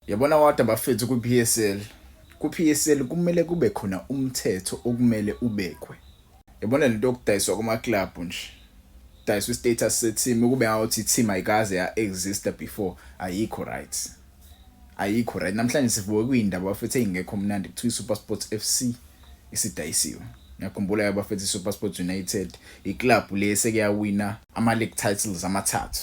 Yabona wada bafethu kwi-PSL. Ku-PSL kumele kube khona umthetho okumele ubekwe. Yabona lento yokudayiswa kuma-club nje. Dayiswa i-status se-team ukube ngawuthi i-team ayikaze ya-exista before ayikho right. Ayikho right. Namhlanje sivuke kuyindaba bafethu eyingekho mnandi kuthiwa i-SuperSports FC isidayisiwe. Ngiyakhumbula yabafethu i-SuperSports United i-club le sekuyawina ama-league titles amathathu.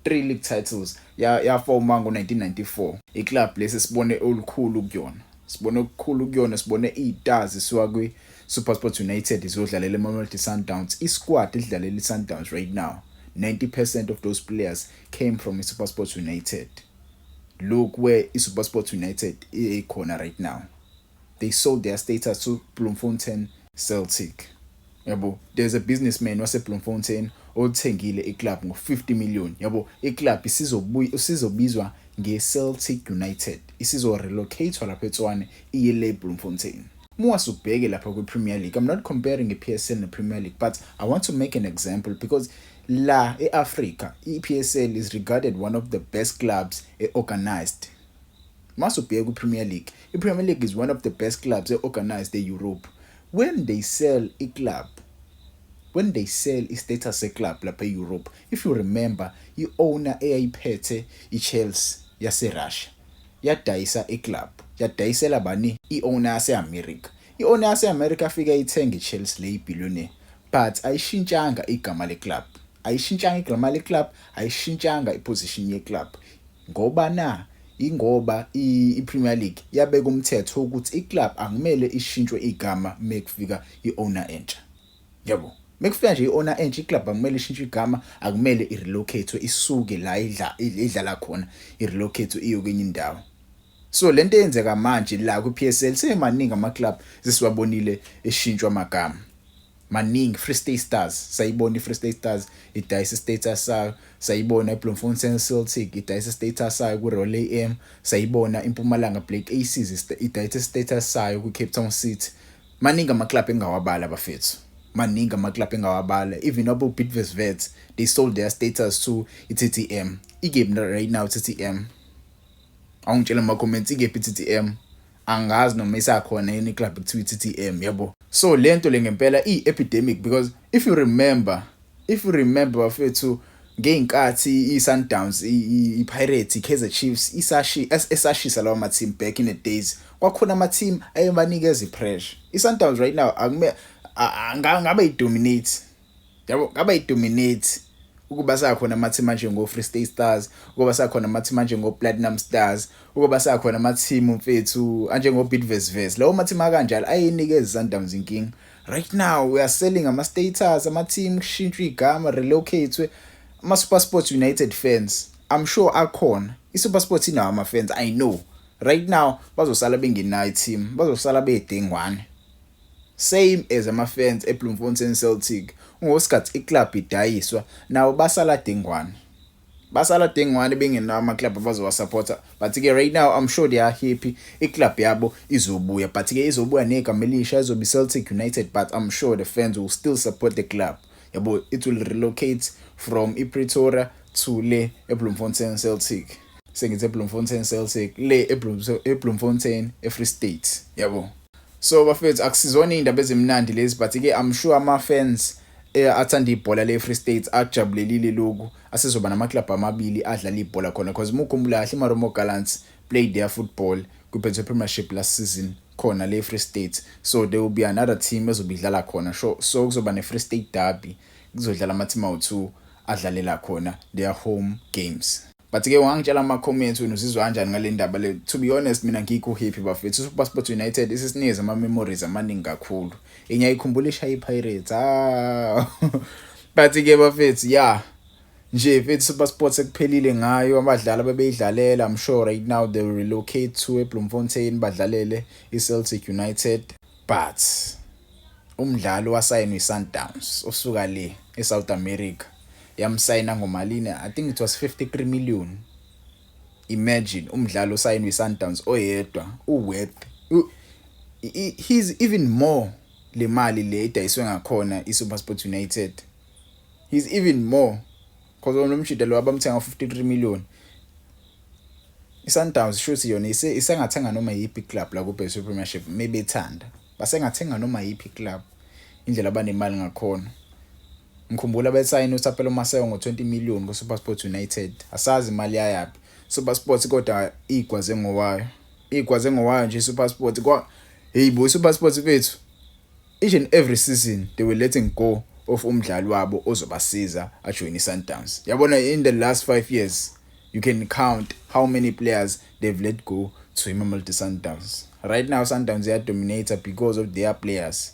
3 league titles ya yafoma ngo-1994 iclub lesi sibone olukhulu kuyona sibone okukhulu kuyona sibone iy'tazi siwa kwi-supersport united ziyodlalela emamelodi sundowns isquad idlalela i-sundowns right now 90 percent of those players came from i-supersport united look where i-supersport united ikhona right now they sold their status to Bloemfontein Celtic. Yabo, there's a businessman waseBloemfontein olithengile iclub ngo-50 million. Yabo, iclub isizobizwa ngeCeltic United. Isizo-relocate-wa lapha eTswane iye le Bloemfontein. Muwase ubheke lapha kwiPremier League. I'm not comparing iPSL nePremier League, but I want to make an example because la eAfrica, iPSL is regarded one of the best clubs e-organized Mase ubheka kwiPremier League, iPremier League is one of the best clubs e-organised e-Europe. When they sell iclub, when they sell istatus seclub lapha e-Europe, if you remember, i-owner eyayiphethe iChelsea yaseRussia yadayisa iclub, yadayisela bani? I-owner yase-America. I-owner yase-America yafike yayithenga iChelsea le ibillionaire but ayishintshanga igama leclub, ayishintshanga igama leclub, ayishintshanga iposition yeclub. Ngoba na? Yingoba i-Premier League yabeka umthetho wokuthi i-club akumele ishintshwe igama mekufika i-owner entsha. Yabo? Mekufika nje i-owner entsha, i-club akumele ishintshwe igama, akumele i-relocate-we isuke la idla idlala khona, i-relocate-we iyo kwenye indawo. So lento eyenzeka manje la kwi-PSL semaningi ama-club sesiwabonile eshintshwa amagama. maningi Free State Stars sayibona iFree State Stars idayisa status sayo sayibona iBloemfontein Celtic idayisa status sayo kuRoyal AM sayibona iMpumalanga Black Aces idayisa status sayo kuCape Town City maningi ama club engawabala bafethu maningi ama club engawabala even abo Bidvest Vets they sold their status to iTTM ikephi right now iTTM awungitshela ama comments ikephi iTTM angazi noma isakhona yini iclub ekuthiwa i-TTM yabo so lento le ngempela iyi-epidemic because if you remember if you remember bafethu ngey'nkathi i-sundowns i-pirates i-kaizer chiefs esashisa lawa ma-team back in the days kwakhona ama-team ayebanikeza i-pressure i-sundowns right now angabe i-dominate yabo ngaba idominate ukuba sakhona amathimu anjengo-free state stars ukuba sakhona amathimu anjengo-platinum stars ukuba sakhona amathimu mfethu anjengo-bidvesves lawo mathimu akanjalo ayenikeza i-sundowns inkinga right now we are selling ama-status amathimu kushintshwa igama relocatwe ama-supersport united fans i'm sure akhona i-supersport inawo ama-fans i know right now bazosala bengenayo i-team bazosala bedengwane Same as ama fans e Bloemfontein Celtic ngoskhathi i club idayiswa nabo basala dengwane basala dengwane bengenawo ama club abazowa supporter but ke right now I'm sure they are happy i club yabo izobuya but ke izobuya negama elisha izobe Celtic United but I'm sure the fans will still support the club yabo it will relocate from i Pretoria to le e Bloemfontein Celtic sengithe Bloemfontein Celtic le e Bloemfontein e Free State yabo So bafethu akusizona iy'ndaba ezimnandi lezi but ke I'm sure ama-fans eh, athanda ibhola le-free states akujabulelile loku asezoba namaklabhu amabili adlala ibhola khona because uma ukhumbula kahle imaromo gallants played their football kwi-betway premiership last season khona le-free states so there will be another team ezobe idlala khona so, so kuzoba ne-free state derby kuzodlala ama-team awu-two adlalela khona their home games but ke ungangitshela ama comments wena uzizwa kanjani ngale ndaba le to be honest mina ngikho happy bafethu super sports united isisinikeza ama memories amaningi kakhulu ingiyayikhumbula ishaya ipirates ah but ke bafethu yeah nje mfethu super sports ekuphelile ngayo abadlali abebeyidlalela i'm sure right now they will relocate to ebloemfontein badlalele iceltic united but umdlali wasayinwa isundowns osuka le esouth america yamsayina ngomalini i think it was 53 million imagine umdlalo usayinwe iSundowns oyedwa uworth he's even more le mali le idayiswe ngakhona iSuperSport United he's even more because lo mshida lo abamthenga 53 million iSundowns shuthi yona isengathenga noma yiphi club la kuBSU Premiership mebethanda basengathenga noma yiphi club indlela abanemali ngakhona Ngikhumbula besayina uThapelo Maseko ngo-20 million kuSuperSport United. Asazi imali yayaphi. SuperSport kodwa igwaze ngowayo. Igwaze ngowayo nje iSuperSport kwa hey bo iSuperSport bethu. Each and every season they were letting go of umdlali wabo ozobasiza ajoyine iSundowns. Yabona in the last 5 years you can count how many players they've let go to iMamelodi Sundowns. Right now Sundowns iyadominator because of their players.